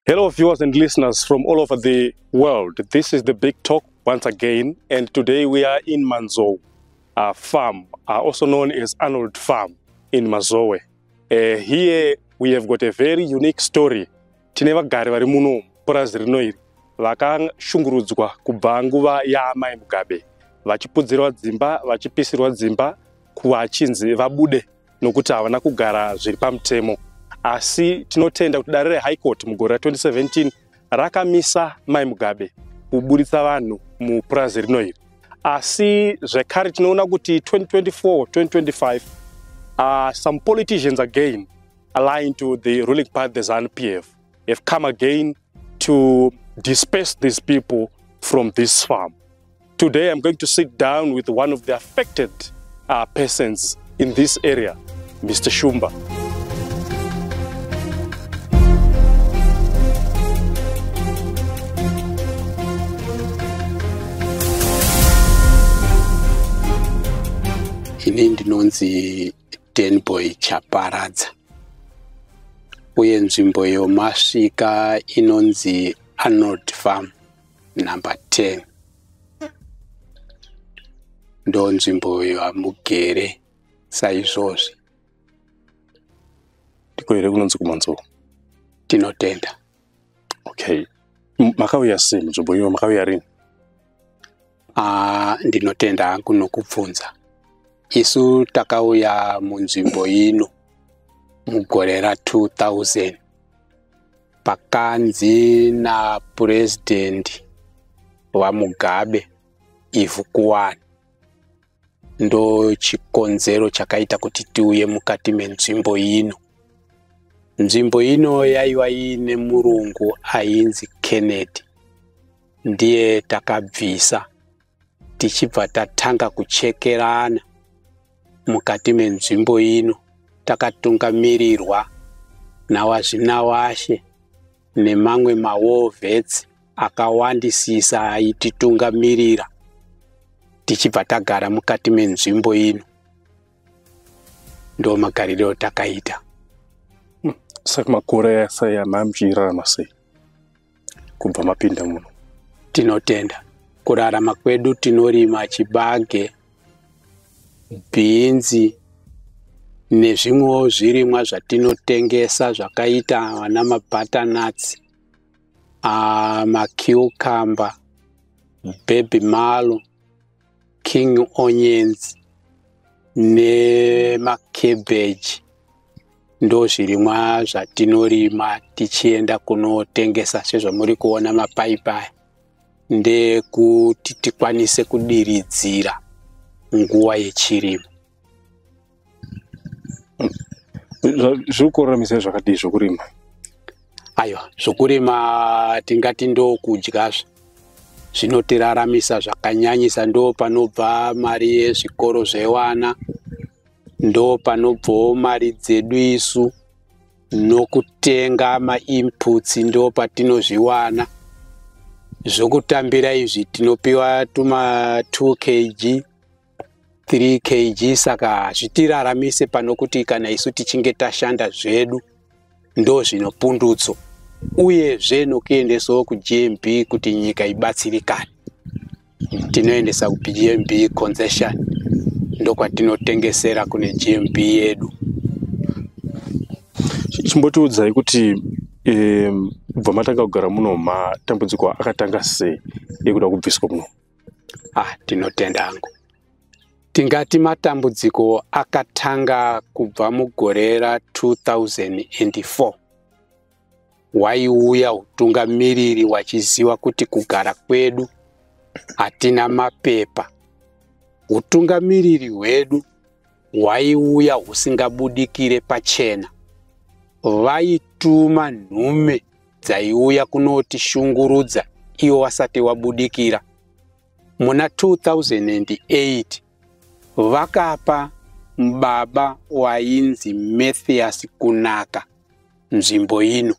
Hello viewers and listeners from all over the world. This is the Big Talk once again and today we are in Manzou uh, farm, uh, also known as Arnold Farm in Mazowe. Uh, here we have got a very unique story. Tine vagari vari muno purazi rino iri vakashungurudzwa kubva nguva yaamai Mugabe vachipudzirwa dzimba vachipisirwa dzimba kuva chinzi vabude nokuti havana kugara zviri pamutemo asi tinotenda kuti dare rehigh court mugore ra2017 rakamisa mai mugabe kuburitsa vanhu mupurazi rino iri asi zvekare tinoona kuti 2024 2025 uh, some politicians again aligned to the ruling party the zanu p f have come again to disperse these people from this farm Today I'm going to sit down with one of the affected uh, persons in this area, Mr. Shumba. ini ndinonzi denboy chaparadza uye nzvimbo yomasvika inonzi arnold farm number 10 ndo nzvimbo iyo hamugere saizvozvi ndiko here kunonzi kumanzou tinotenda okay makauya sei munzvimbo iyo makauya rini Ah, ndinotenda hangu nokubvunza. Isu takauya munzvimbo ino mugore ra 2000 pakanzi na president vaMugabe ivhu kuwani ndo chikonzero chakaita kuti tiuye mukati menzvimbo ino. Nzvimbo ino yaiva iine murungu ainzi Kennedy. ndiye takabvisa tichibva tatanga kuchekerana mukati menzvimbo ino takatungamirirwa nawazvinawashe nemamwe mawar vets akawandisisa aititungamirira tichibva tagara mukati menzvimbo ino ndo magariro takaita saka makore asai anamjirana sei kubva mapinda muno tinotenda kurarama kwedu tinorima chibage bhinzi nezvimwewo zvirimwa zvatinotengesa zvakaita vana mabutternats ah, macucumber baby malo king onions nemacabbage ndo zvirimwa zvatinorima tichienda kunotengesa sezvamuri kuona mapaipi aya ndekuti tikwanise kudiridzira nguva yechirimo zviri kuoramisa zvakadii zvokurima aiwa zvokurima tingati ndokudyazve zvinotiraramisa zvakanyanyisa ndo panobva mari yezvikoro zvewana ndo panobvawo mari dzedu isu nokutenga mainputs ndo patinozviwana zvokutambira izvi tinopiwa tuma 2 kg 3 kg saka hazvitiraramise pano kuti kana isu tichinge tashanda zvedu ndo zvino pundutso uyezve nokuendesawo kugmb kuti nyika ibatsirikane tinoendesa kugmb concession ndokwatinotengesera kune gmb yedu chimbotiudzai kuti um, bva matanga kugara muno matambudziko akatanga sei ekuda kubviswa muno ah ndinotenda hangu tingati matambudziko akatanga kubva mugore ra 2004 waiuya utungamiriri wachiziva kuti kugara kwedu hatina mapepa utungamiriri hwedu hwaiuya husingabudikire pachena vaituma nhume dzaiuya kunotishungurudza iwo wasati wabudikira muna 2008 vakapa baba wainzi mathias kunaka nzvimbo ino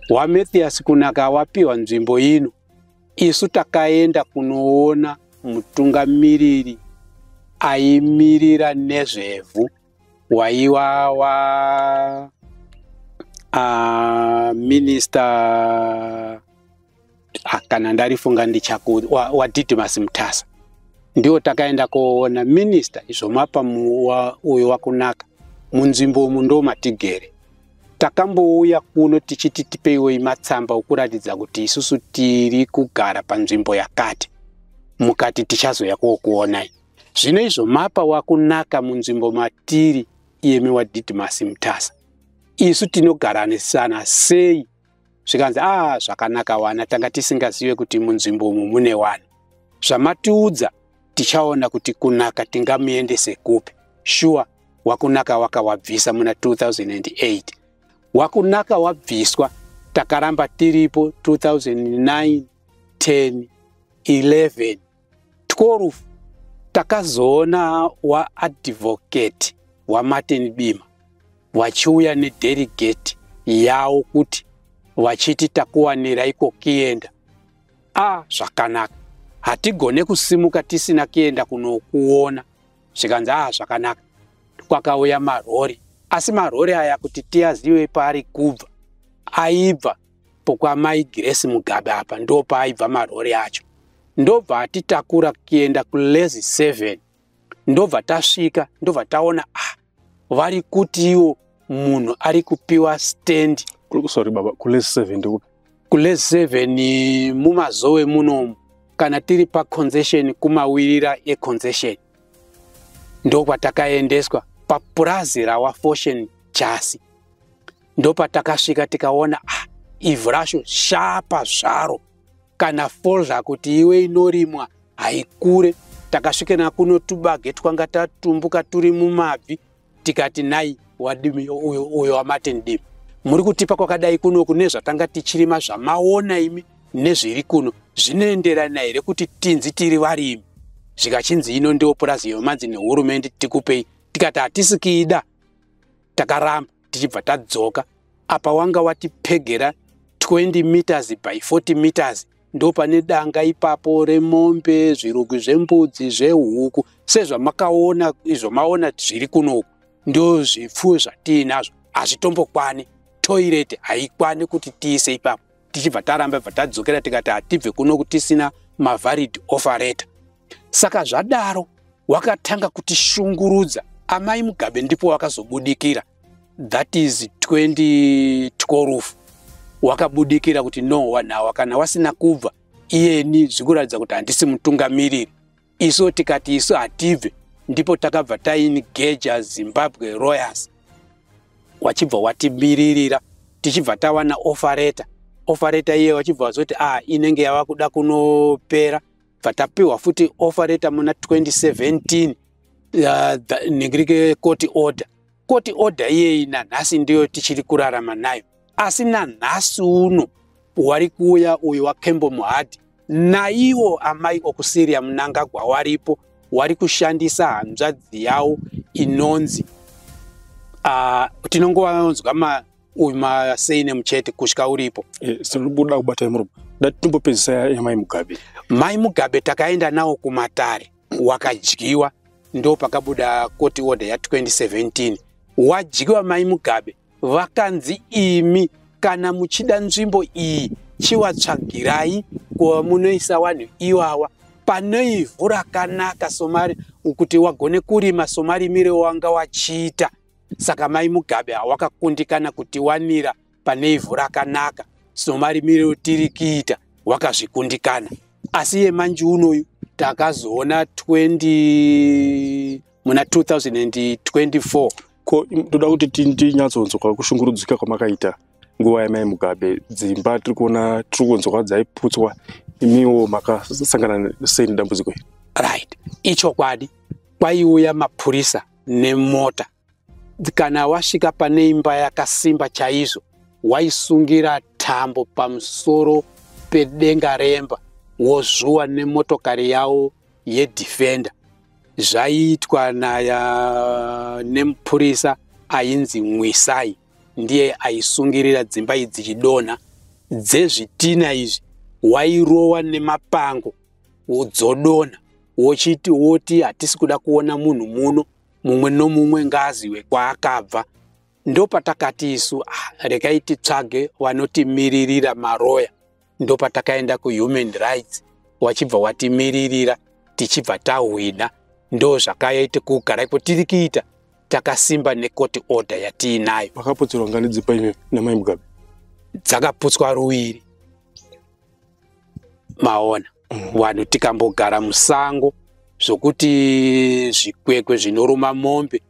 wamathias kunaka wapiwa nzvimbo ino isu takaenda kunoona mutungamiriri aimirira nezvevhu waiwawa uh, minister ah, kana ndarifunga ndichaku wadidimas wa mutasa ndiwo takaenda koona minister izvo mapa uyo wakunaka munzvimbo umu ndo matigere takambouya kuno tichiti tipeiwo imatsamba okuratidza kuti isusu tiri kugara panzvimbo yakati mukati tichazoya kookuonai Zvino izvo mapa wakunaka munzvimbo matiri iyemi waDidimasi Mutasa. Isu tinogaranisana sei? Zvikanzi, ah, zvakanaka wana, tanga tisingazive kuti munzvimbo umu mune wani. Zvamatiudza tichaona kuti kunaka tingamuendese kupi. Shuwa, wakunaka wakawabvisa muna 2008. Wakunaka wabviswa, takaramba tiripo 2009, 10, 11. Tworufu takazoona waadvocate waMartin Bima vachiuya nederigeti yawo kuti vachiti takuwanira iko kienda a zvakanaka hatigone kusimuka tisina kienda kunokuona zvikanzi a zvakanaka kwakauya marori asi marori aya kuti tiyazive paari kubva aibva pokwamai Grace Mugabe apa ndo paaibva marori acho ndobva atitakura kuenda kulezi 7 ndobva tasvika ndobva taona ah vari kutiwo munhu ari kupiwa stand sorry baba kulezi 7 ndikupi kulezi 7 mumazowe munomu kana tiri paconcession kumawirira econcession ndokwatakaendeswa papurazi rawafoshen chasi ndopatakasvika tikaona ah, ivhu racho shapa zvaro kana folder kuti iwe inorimwa haikure takasvika nakuno tubage twanga tatumbuka turi mumabvi tikati nai wadimi uyo wamati ndimi muri kutipa kwakadai kuno kune zvatanga tichirima zvamaona imi nezviri kuno zvinoenderana here kuti tinzi tiri varimi zvikachinzi ino ndiwo purazi yomanzi nehurumende tikupei tikati hatisikiida takaramba tichibva tadzoka apa wanga watipegera 20 meters by 40 meters ndopane danga ipapo remombe zvirugwi zvembudzi zvehuku sezvamakaona izvo maona zviri kunoku ndo zvipfuwo zvatiinazvo hazvitombokwani toireti haikwani kuti tiise ipapo tichibva taramba bva tadzokera tikati hatibve kunoku tisina mavalid offereta saka zvadaro wakatanga kutishungurudza amai mugabe ndipo wakazobudikira that is 2012 wakabudikira kuti no wanhawa kana wasina kubva iyeni zvikuratidza kuti handisi mutungamiriri isu tikati isu hatibve ndipo takabva taini geja zimbabwe royers wachibva watimiririra tichibva tawana ofareta ofareta iye wachibva wazoti a ah, inenge yava kuda kunopera bva tapiwa futi offer letter muna 2017 uh, negirike court order court order iyeyi nanhasi ndiyo tichiri kurarama nayo asi nanhasi uno wari kuuya uyu wakembo muhadhi naiwo amai okusiria munangagwa waripo wari kushandisa hanzvadzi yawo inonzi uh, tinongovanzwa uyu masei nemuchete kusvika uripo eh, sinoda kubatai murume dati timbopedzisa yamai mugabe mai mugabe takaenda nawo kumatare wakadyiwa ndo pakabuda koti order ya 2017 wadyiwa mai mugabe vakanzi imi kana muchida nzvimbo iyi chiwatsvagirai kuva munoisa vanhu iwawa pane ivhu rakanaka somari kuti wagone kurima somarimire wanga wachiita saka mai mugabe hawakakundikana kutiwanira pane ivhu rakanaka somarimire otiri kiita wakazvikundikana asi yemanji unoyu takazoona 20 muna 2024 ko toda kuti tinyatsonzwa kushungurudzika kwamakaita nguva yamai mugabe dzimba tiri kuona tiri kunzwa dzaiputswa imiwo makasangana sei nedambudziko iri right ichokwadi kwaiuya mapurisa nemota kana wasvika pane imba yakasimba chaizvo waisungira tambo pamusoro pedenga remba wozvuwa nemotokari yawo yedefender zvaiitwa naya nemupurisa ainzi mwisai ndiye aisungirira dzimba idzi chidonha dzezvitina izvi wairowa nemapango wodzodona wochiti woti hatisi kuda kuona munhu muno mumwe nomumwe ngaziwe kwaakabva ndopatakati isu ah, rekai titsvage vanotimiririra maroya ndopatakaenda kuhuman rights wachibva watimiririra tichibva tahwina ndo zvakaita kugara iko tiri kuita takasimba necourt order yatiinayo vakaputsirwa ngani dzipa imi namai mugabe dzakaputswa ruviri maona mm. wanhu tikambogara musango zvokuti zvikwekwe zvinoruma mombe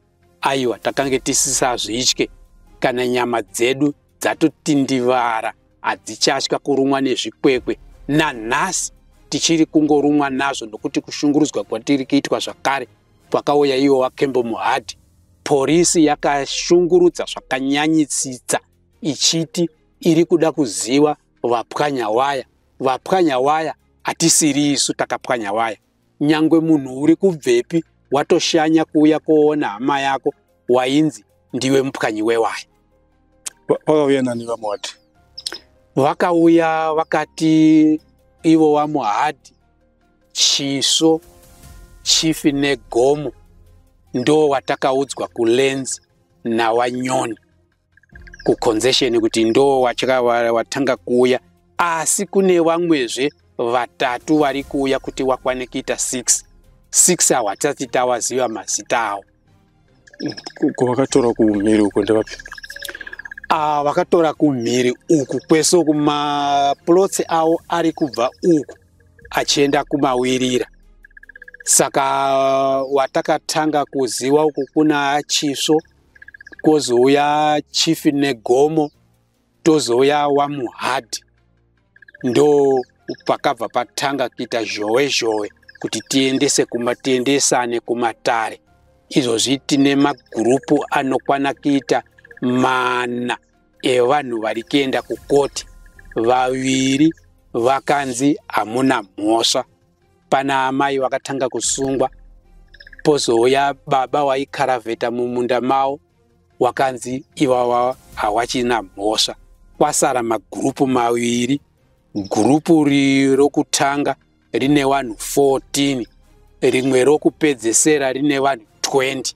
aiwa takange tisisazvitye kana nyama dzedu dzatotindivara hadzichatya kurumwa nezvikwekwe nanhasi tichiri kungorumwa nazvo nokuti kushungurudzwa kwatiri kuitwa zvakare kwakauya iwo wakembo muhadhi porisi yakashungurudza zvakanyanyisitsa ichiti iri kuda kuziva vapwanya waya vapwanya waya hatisiri isu takapwanya waya nyangwe munhu uri kubvepi watoshanya kuuya koona hama yako wainzi ndiwe mupwanyi wewaya vakauya nani vamuhadhi vakauya vakati ivo vamuhadhi chiso chifi negomo ndo watakaudzwa kulenzi nawanyoni kuconzession kuti ndo watya watanga kuuya asi kune vamwezve vatatu vari kuuya kuti wakwane kuita 6 6 awa tisati tawaziva mazita awo kwavakatora kumhiri uko ndevapi ah, vakatora kumhiri uku kwese uku maplotsi awo ari kubva uku achienda kumawirira saka watakatanga kuziva uku kuna chisvo kozouya chief negomo tozouya wamuhadhi ndo pakabva patanga kuita zhowe zhowe kuti tiendese kuma tiendesane kumatare izvozvi tine magurupu anokwana kuita mana evanhu vari kuenda kukoti vaviri vakanzi hamuna mhosva Pana amai vakatanga kusungwa pozouya baba waikaravheta mumunda mawo wakanzi iwawa hawachina mhosva kwasara magurupu maviri gurupu rokutanga rine vanhu 14 rimwe rokupedzesera rine vanhu 20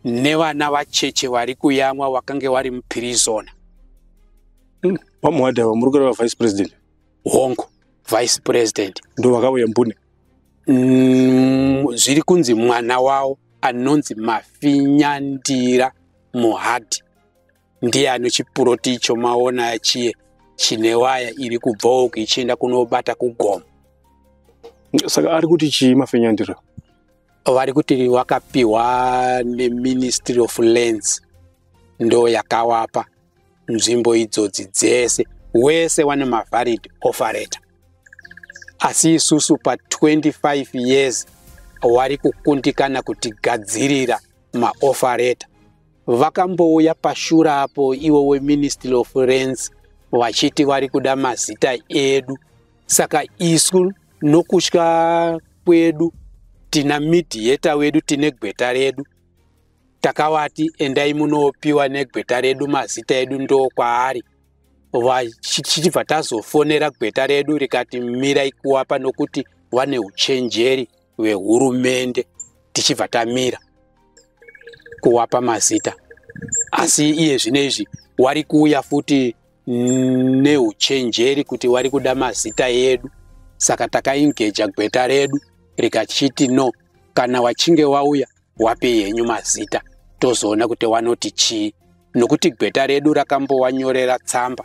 nevana vacheche vari kuyamwa wakange wari mupirizona vamwe wadava muri kureva vice president hongu vice president ndo vakauya mbune mm, zviri kunzi mwana wavo anonzi mafinyandira muhadhi ndiye ano chipuroti icho maona chiye chine waya iri kubvawo ichienda kunobata kugomo saka ari kuti chii mafinyandira vari kuti wakapiwa neministry of lands ndo yakawapa nzvimbo idzodzi dzese wese wane mavalid offer letter asi isusu pa 25 years wari kukundikana kutigadzirira maoffer letter vakambouya pashura apo iwo weministry of rents vachiti vari kuda mazita edu saka isu nokutya kwedu tina midhiyeta wedu tine gweta redu takavati endai munopiwa negweta redu mazita edu ndo kwaari vachibva tazofonera gweta redu rikati mirai kuwapa nokuti vane uchenjeri hwehurumende tichibva tamira kuwapa mazita asi iye zvino izvi wari kuuya futi neuchenjeri kuti wari kuda mazita edu saka takaingeja gweta redu rikachiti no kana wachinge wauya wapei henyu mazita tozoona kuti wanoti chii nokuti gweta redu rakambowanyorera tsamba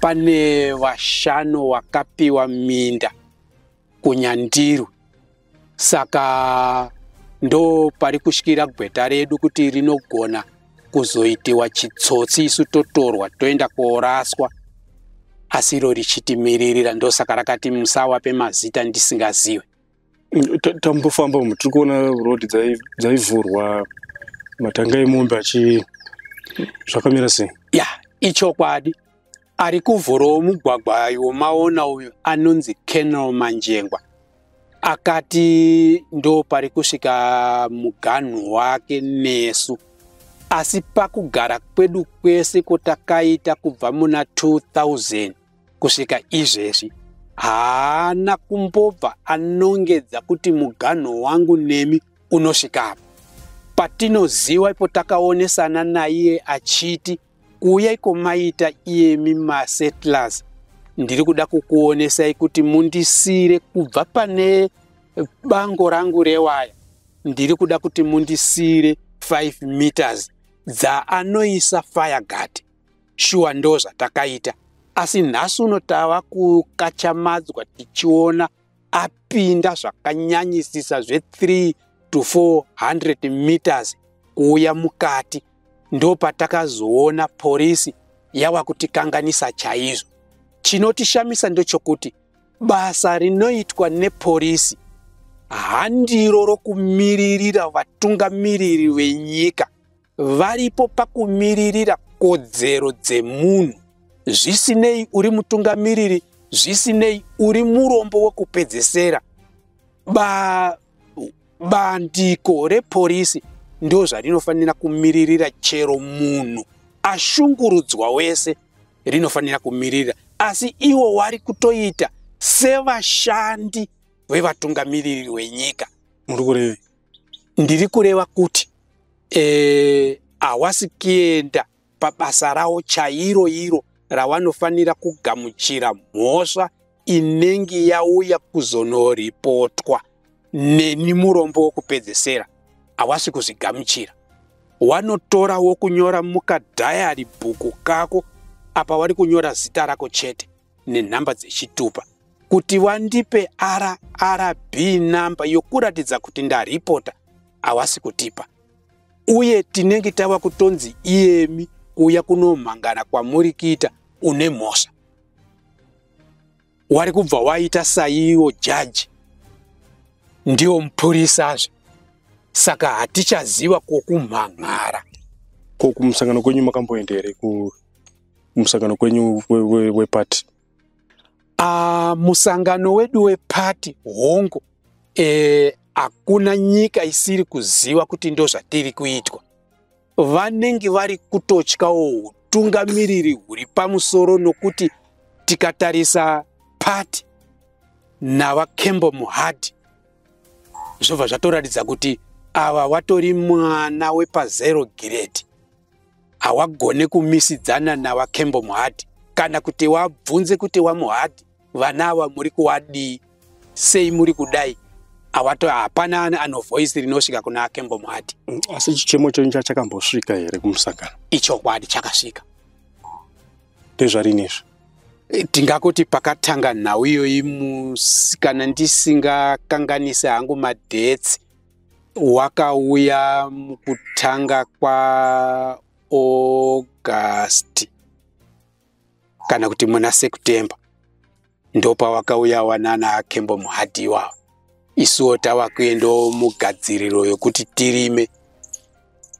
pane vashanu wakapiwa minda kunyandirwi saka ndo pari kushikira gweta redu kuti rinogona kuzoitiwa chitsotsi isu totorwa toenda kooraswa asi iro richitimiririra ndosaka rakati musawape mazita ndisingaziwe tambofamba umu tiri kuona road dzaivhurwa matanga emombe achi zvakamira sei ya ichokwadi ari kuvhurawo mugwagwa womaona uyu anonzi kenal manjengwa akati ndo pari kusvika muganhu wake nesu asi pakugara kwedu kwese kwotakaita kubva muna 2000 Kusvika izvezvi haana kumbobva anongedza kuti muganho wangu nemi unosvikapo. Patinoziva ipo takaonesana naiye achiti kuuya iko maita iyemi masettlers ndiri kuda kukuonesai kuti mundisiire kubva pane bango rangu rewaya ndiri kuda kuti mundisiire 5 meters dzaanoisa fireguard shuwa ndozvatakaita asi nhasi uno tava kukachamadzwa tichiona apinda zvakanyanyisisa zve 3 to 400 meters kuuya mukati ndopatakazoona porisi yava kutikanganisa chaizvo chinotishamisa ndechokuti basa rinoitwa neporisi handiro rokumiririra vatungamiriri venyika varipo pakumiririra kodzero dzemunhu zvisinei uri mutungamiriri zvisinei uri murombo wekupedzesera ba bandiko reporisi ndo zvarinofanira kumiririra chero munhu ashungurudzwa wese rinofanira kumiririra asi iwo wari kutoita sevashandi vevatungamiriri wenyika muri kurevei ndiri kureva kuti e, hawasi kuenda pabasa rawo chairo iro rawanofanira kugamuchira mhosva inenge yauya kuzonoripotwa neni murombo wokupedzesera hawasi kuzvigamuchira wanotora wokunyora mukadhayari bhuku kako apa wari kunyora zita rako chete nenhamba dzechitupa kuti wandipe rrb namba yokuratidza kuti ndaripota awasi kutipa uye tinenge tava kutonzi iyemi kuuya kunomhangana kwamuri kuita une mhosva wari kubva waita saiwo jaji ndiwo mupurisazve saka hatichaziva kwokumhan'ara ko kumusangano kwenyu makamboenda here ku musangano kwenyu wepati ah, musangano wedu wepati hongu eh, hakuna e, nyika isiri kuziva kuti ndo zvatiri kuitwa vanenge vari kutotyawo utungamiriri huri pamusoro nokuti tikatarisa pati navakembo muhadhi zvobva zvatoratidza kuti ava watori mwana wepazero giredi hawagone kumisidzana nawakembo muhadhi kana kuti wabvunze kuti wamuhadhi vana ava muri kuwadii sei muri kudai awato hapana ani anovoisi rinosvika kuna akembo muhadhi mm, asi chichemo chenyu chachakambosvika here kumusangano ichokwadi chakasvika ndezvarinizvi eh, tingakuti pakatanga nhau iyoyi musikana ndisingakanganise hangu madhetsi wakauya mukutanga kwaAugust kana kuti muna September ndopawakauya wanana Kembo Muhadhi iwawa isuwo tava kuendawo mugadziriro yokuti tirime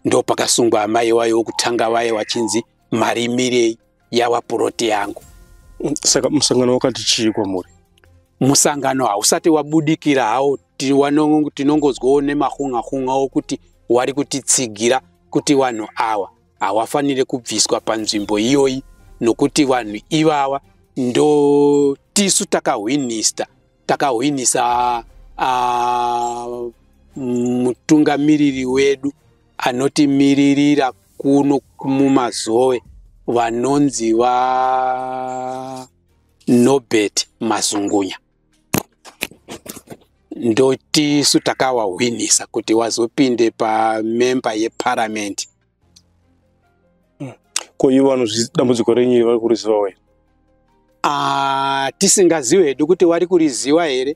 ndopakasungwa amai wayo wokutanga vaye wachinzi marimirei yava puroti yangu saka musangano wakati chii kwamuri musangano hausati wabudikira hawo tinongonzwawo nemahun'ahun'a okuti wari kutitsigira kuti vanhu awa hawafanire kubviswa panzvimbo iyoyi nokuti vanhu ivava ndo tisu takahwinista takahwinisa uh, mutungamiriri wedu anotimiririra kuno mumazowe vanonzi va nobert mazungunya ndotisu takawahwinisa kuti wazopinde pamemba yeparamende hmm. ko ivo vanozvi dambudziko renyu iri vari kuriziva wena ah, tisingaziwe hedu kuti wari kuriziwa here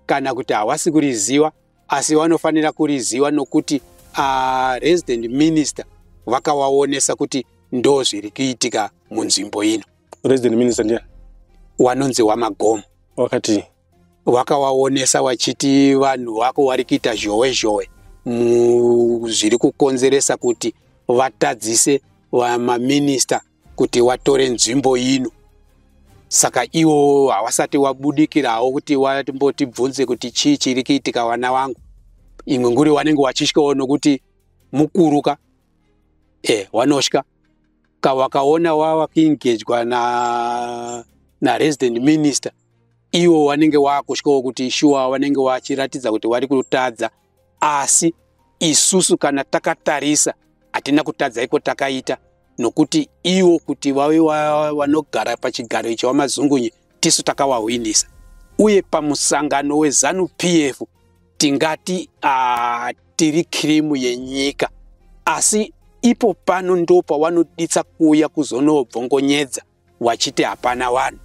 kana kuti hawasi kuriziwa asi wanofanira kuriziwa nokuti ah, resident minister vakawaonesa kuti ndo zviri kuitika munzvimbo ino resident minister ndiani wanonzi wamagomo wakati wakawaonesa wachiti vanhu vako wari kuita zhowe zhowe zviri kukonzeresa kuti vatadzise vamaminista kuti watore nzvimbo ino saka iwo hawasati wabudikirawo kuti wambotibvunze kuti chii chiri kuitika vana vangu imwe nguri wanenge wachityawo nokuti mukuru ka e wanotya ka wakaona wava kuengejwa na naresident minister iwo wanenge wakutyawo kuti shuwa wanenge wachiratidza kuti wari kutadza asi isusu kana takatarisa hatina kutadza iko takaita nokuti iwo kuti vave vanogara pachigaro icho wamazungunye tisu takawahwinisa uye pamusangano wezanu p f tingati uh, tiri kirimu yenyika asi ipo pano ndopawanoditsa kuuya kuzonobvongonyedza wachiti hapana vanhu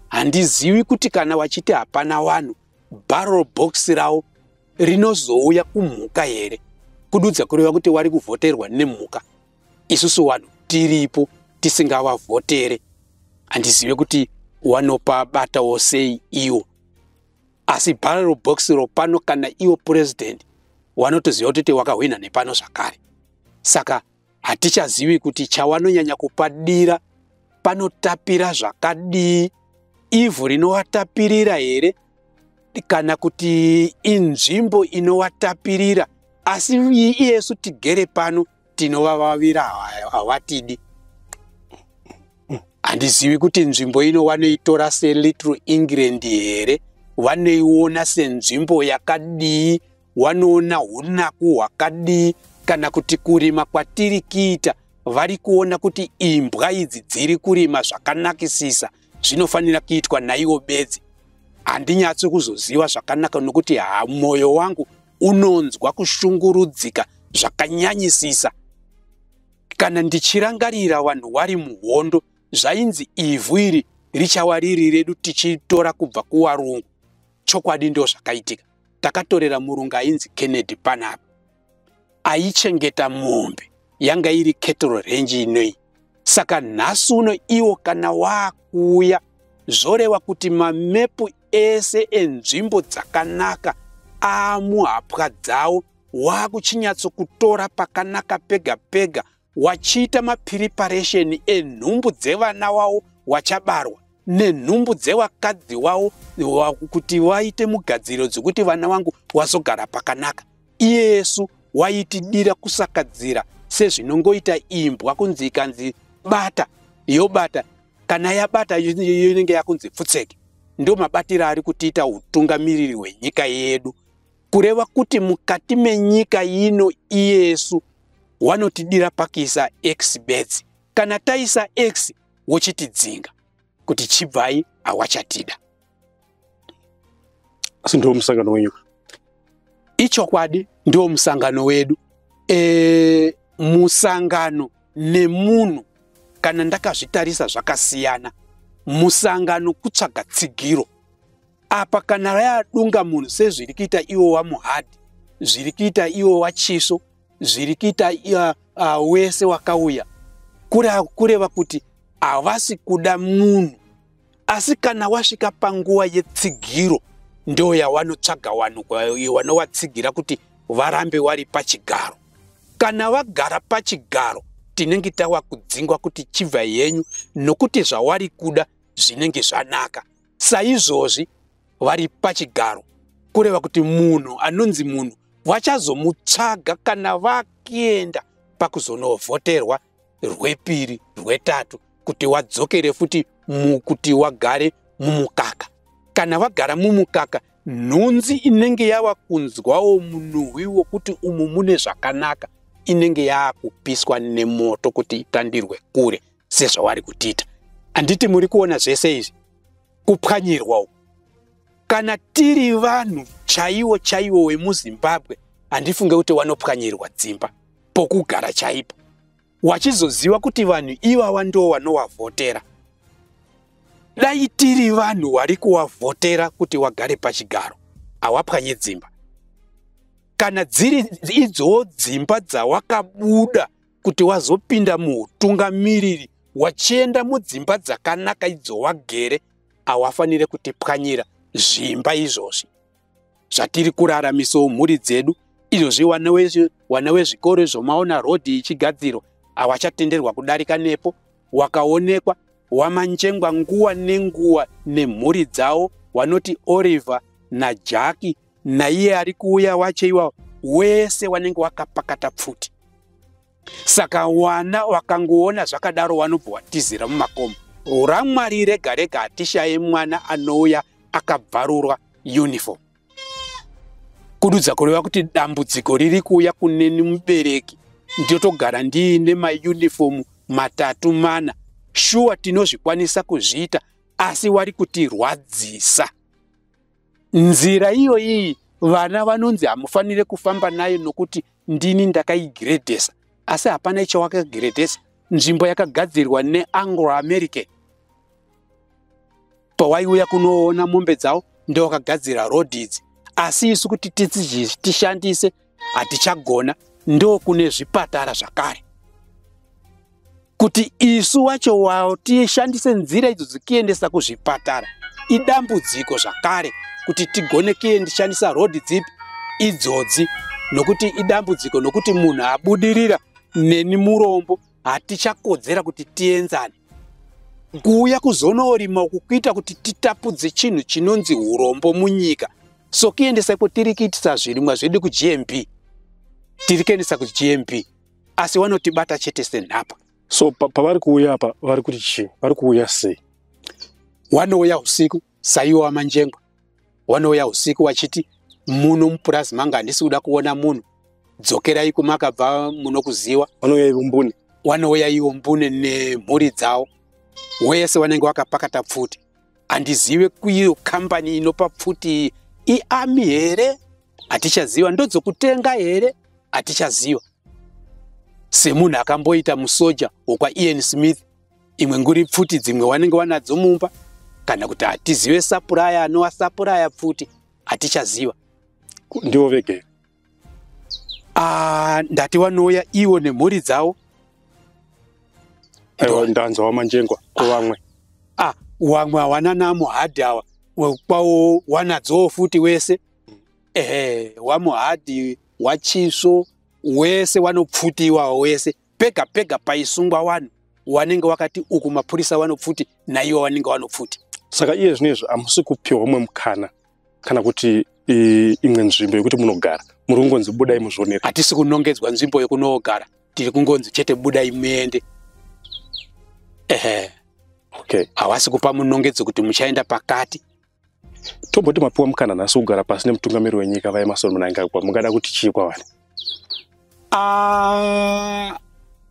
handizivi kuti kana wachiti hapana vanhu barrel box ravo rinozouya kumhuka here kududza kureva kuti wari kuvhoterwa nemhuka isusu vanhu tiripo tisingavavhotere handizive kuti wanopa batawo sei iwo asi barrel box ro pano kana iwo purezidhendi wanotoziva kutoti wakahwina nepano zvakare saka Hatichazivi kuti chawanonyanya kupadira panotapira zvakadii, ivhu rinowatapirira here kana kuti inzvimbo inowatapirira, asi iyesu tigere pano tinovavavira hawatidi. Handizivi kuti nzvimbo ino wanoitora seLittle England here, wanoiona senzvimbo yakadii wanoona unaku hwakadii kana kuti kurima kwatiri kiita vari kuona kuti imbwa idzi dziri kurima zvakanakisisa zvinofanira kuitwa naiwo bedzi handinyatsi kuzoziva zvakanaka nokuti ha mwoyo wangu unonzwa kushungurudzika zvakanyanyisisa kana ndichirangarira vanhu wari muhondo zvainzi ivhu iri richava riri redu tichitora kubva kuwarungu chokwadi ndo zvakaitika takatorera murungu ainzi kennedy panapa aichengeta mombe yanga iri kettle range inoi saka nhasi uno iwo kana waakuuya zvoreva kuti mamepu ese enzvimbo dzakanaka aamuhapwa dzawo waakuchinyatsokutora pakanaka pega pega wachiita mapiriparesheni enhumbu dzevana wavo wachabarwa nenhumbu dzevakadzi wavo kuti vaite mugadziriro dzekuti vana vangu wazogara pakanaka iyesu waitidira kusakadzira sezvinongoita imbwa kunzi ikanzi bata yobata kana yabata inenge yakunzi pfutseke ndomabatiro ari kutiita utungamiriri hwenyika yedu kureva kuti mukati menyika ino iyesu wanotidira pakuisa x bedzi kana taisa x wochitidzinga kuti chibvai awachatida asi ndiwo musangano wenyu ichokwadi ndiwo musangano wedu e, musangano nemunhu kana ndakazvitarisa zvakasiyana musangano kutsvaga tsigiro apa kana rayadunga munhu sezviri kuita iwo wamuhadhi zviri kuita iwo wachiso zviri kuita uh, uh, wese wakauya kureva kuti havasi kuda munhu asi kana wasvika panguva yetsigiro ndo yawanotsvaga vanhu wanovatsigira kuti varambe wari pachigaro kana wagara pachigaro tinenge tawa kudzingwa kuti chibva yenyu nokuti zvawari kuda zvinenge zvanaka saizvozvi vari pachigaro kureva kuti munhu anonzi munhu vachazomutsvaga kana vakienda pakuzonovhoterwa rwepiri rwetatu kuti wadzokere futi mukuti wagare mumukaka kana vagara mumukaka nhunzi inenge yava kunzwawo munhuhwi wokuti umu mune zvakanaka inenge yaakupiswa nemoto kuti itandirwe kure sezvavari kutiita handiti muri kuona zvese izvi kupwanyirwa uku kana tiri vanhu chaiwo chaiwo wemuzimbabwe handifunge kuti wanopwanyirwa dzimba pokugara chaipo wachizoziva kuti vanhu ivava ndo vanowavhotera dai tiri vanhu wari kuwavhotera kuti wagare pachigaro hawapwanye dzimba kana dziri idzowo dzimba dzawakabuda kuti wazopinda muutungamiriri wachienda mudzimba dzakanaka idzo wagere hawafanire kutipwanyira zvimba izvozvi zvatiri kurara miso mhuri dzedu izvozvi wana wezvikoro zvomaona rodhi ichigadzirwa hawachatenderwa kudarika nepo wakaonekwa wamanjengwa nguwa nenguwa nemhuri dzawo wanoti Oliver naJaki naiye ari kuuya wacho iwawo wese wanenge wakapakata pfuti saka wana wakangoona zvakadaro wanobva watizira mumakomo ramwari rega rega hatishaye mwana anouya akabvarurwa uniform kududza kureva kuti dambudziko riri kuuya kuneni mubereki ndotogara ndiine maunifomu matatu mana shuwa tinozvikwanisa kuzviita asi wari kutirwadzisa nzira iyoyi vana vanonzi hamufanire kufamba nayo nokuti ndini ndakaigiredhesa asi hapana icho wakagiredhesa nzvimbo yakagadzirwa neanglo american pawaiuya kunoona mombe dzavo ndowakagadzira rodhi idzi asi isu kuti tishandise hatichagona ndokune zvipatara zvakare kuti isu wacho wawo tishandise nzira idzo dzikiendesa kuzvipatara idambudziko zvakare kuti tigone kiendishandisa rhodhi dzipi idzodzi nokuti idambudziko nokuti munhu abudirira neni murombo hatichakodzera kuti tienzane kuuya kuzonorima uku kuita kuti titapudze chinhu chinonzi urombo munyika so kuendesa ko tiri kuitisa zvirimwa zvedu kugmp tiri kuendesa kugmp asi wanotibata chete senhapwa so pavari kuuya apa vari kuti chii vari kuuya sei wanouya usiku saiwo wamanjengwa wanouya usiku wachiti muno mupurazi manga handisi kuda kuona munhu dzokerai kumakabva munokuziwa wanouya ivo mbune wanouya ivo mbune nemhuri dzawo wese wanenge wakapakata pfuti handizive kuiyo kambani inopa pfuti iami here hatichaziva ndodzokutenga here hatichaziva semunhu akamboita musoja wokwaen smith imwe nguri pfuti dzimwe wanenge wanadzo mumba kana kuti hatizive sapuraya anowa sapuraya pfuti hatichaziva ndivo vegere ah, ndati wanouya ivo nemhuri dzavo aiwa ndanzwa wamanjengwa kuvamwe ah, ah, wamwe hawana namo hadhi awa kwawo wanadzowo futi wese ehe wamuhadhi wachisvo wese wanopfutiwa wese pega pega paisungwa wani wanenge wakati uku mapurisa vanopfuti naiwo wanenge wanopfuti saka iye zvino izvi hamusi kupiwa umwe mukana kana kuti imwe nzvimbo yekuti munogara muri kungonzi budai muzvionera hatisi kunongedzwa nzvimbo yekunoogara tiri kungonzi chete budai muende ehe okay hawasi kupa munongedzo kuti muchaenda pakati tomboti mapiwa mukana nhasi kugara pasi nemutungamiri wenyika vaemarsoni munangagwa mungada kuti chii kwavari ah,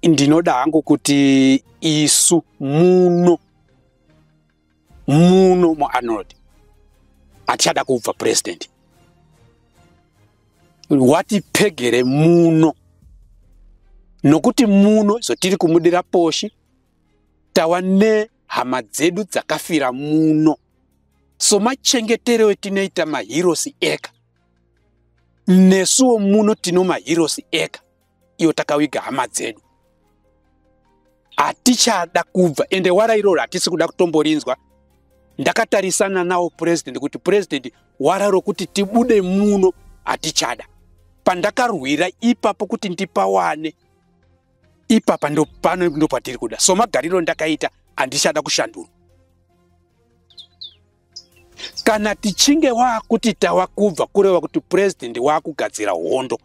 ndinoda hangu kuti isu muno muno muarnold hatichada kubva purezidendi watipegere muno nokuti muno izvo tiri kumudira poshi tava hama dzedu dzakafira muno somachengetereo etinoita mahirosi eka nesuwo muno tino mahirosi eka iyo takawiga hama dzedu hatichada kubva ende wara iroro hatisi kuda kutomborinzwa ndakatarisana nawo purezident kuti purezident wara rokuti tibude muno hatichada pandakarwira ipapo kuti ndipawane ipapa ndopano ndopatiri kuda so magariro ndakaita handichada kushandurwa kana tichinge wakuti tava kubva kureva kuti purezidendi wakugadzira hondo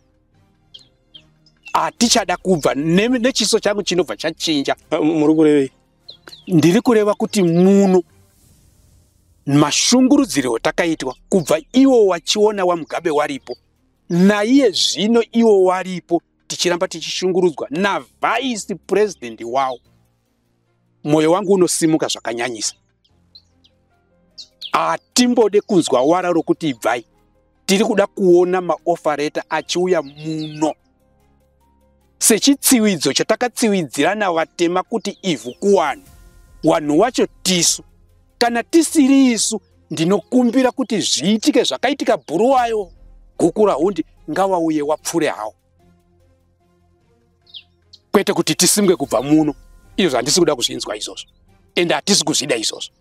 hatichada kubva nechiso changu chinobva chachinja muri kurevei ndiri kureva kuti muno mashungurudziro atakaitwa kubva iwo wachiona wamugabe waripo naiye zvino iwo waripo tichiramba tichishungurudzwa navhaisi purezidhendi wawo mwoyo wangu unosimuka zvakanyanyisa hatimbode kunzwa wara rokuti ibvai tiri kuda kuona maofareta achiuya muno sechitsiwidzo chatakatsiwidzirana vatema kuti ivhu kuwanhu wanhu wacho tisu kana tisiri isu ndinokumbira kuti zviitike zvakaitika bhuruwayo gukura hundi ngawauye wapfure hawo kwete kuti tisimwe kubva muno izvozvo handisi kuda kuzvinzwa izvozvo ende hatisi kuzvida izvozvo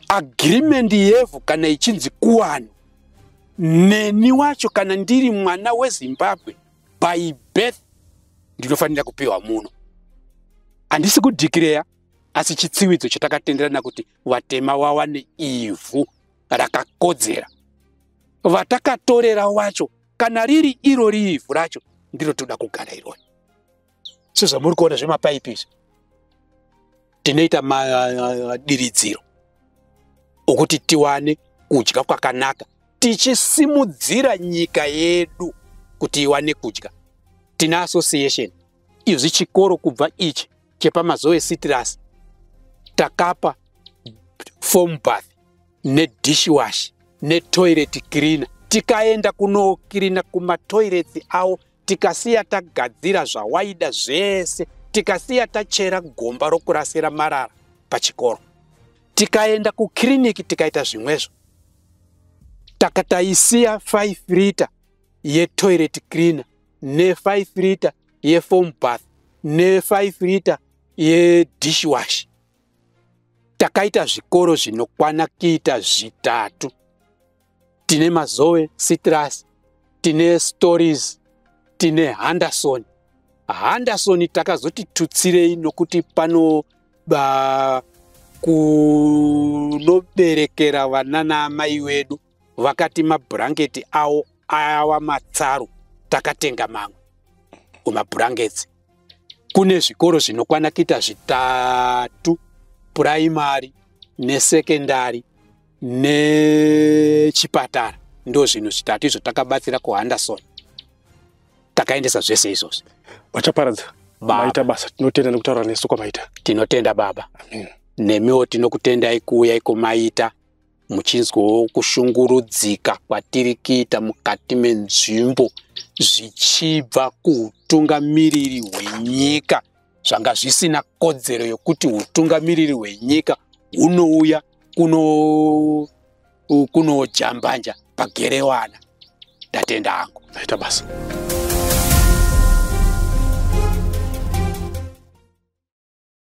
agreement yevhu kana ichinzi kuwano neni wacho kana ndiri mwana wezimbabwe by birth ndinofanira kupiwa muno handisi kudhikireya asi chitsividzo chatakatenderana kuti vatema wawane ivhu rakakodzera vatakatorera wacho kana riri iro riivhu racho ndiro toda kugara iroi sezvamuri kuona zvemapaipi izvi tinoita madiridziro okuti tiwane kudya kwakanaka tichisimudzira nyika yedu kuti iwane kudya tina association izvi chikoro kubva ichi chepamazoe citrus takapa foam bath nedishwash netoilet cleaner tikaenda kunokirina kumatoirets awo tikasiya tagadzira zvawaida zvese tikasiya tachera gomba rokurasira marara pachikoro tikaenda kukiriniki tikaita zvimwezvo takataisiya 5 rita yetoilet cleaner ne5 liter yefoam bath ne5 liter yedishwash takaita zvikoro zvinokwana kuita zvitatu tine mazoe citrus tine stories tine handerson handerson takazoti tutsirei nokuti pano ba kunoberekera vana naamai wedu vakati mabhurangeti awo awa matsaru takatenga mamwe kumabhurangeti kune zvikoro zvinokwana kuita zvitatu puraimari nesekendari nechipatara ndo zvinhu zvitatu izvo takabatsira kuhanderson takaendesa zvese izvozvi vachaparadza maita basa tinotenda nekutaura nesu kwamaita tinotenda baba nemiwo tinokutendai kuuya iko maita muchinzwawo kushungurudzika kwatiri kuita mukati menzvimbo zvichibva kuutungamiriri hwenyika zvanga zvisina kodzero yokuti utungamiriri hwenyika hunouya kuno kunojambanja pagerewana ndatenda hangu aita basa